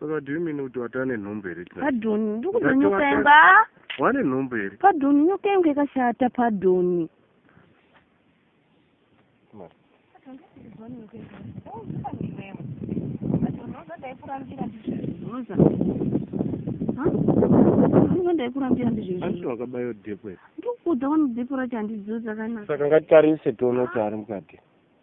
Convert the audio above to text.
saka do you mean kuti wati ane nhumbu here padoni ndikuda nyoka yanga wane nhumbu here padoni nyoka yangu yakashata padoni ndaikurambira ndizvezvowakabayo dhepo ndikuudza wani dhepo racho handidziwo dzakanaka saka ngatitarise tione kuti ari mukati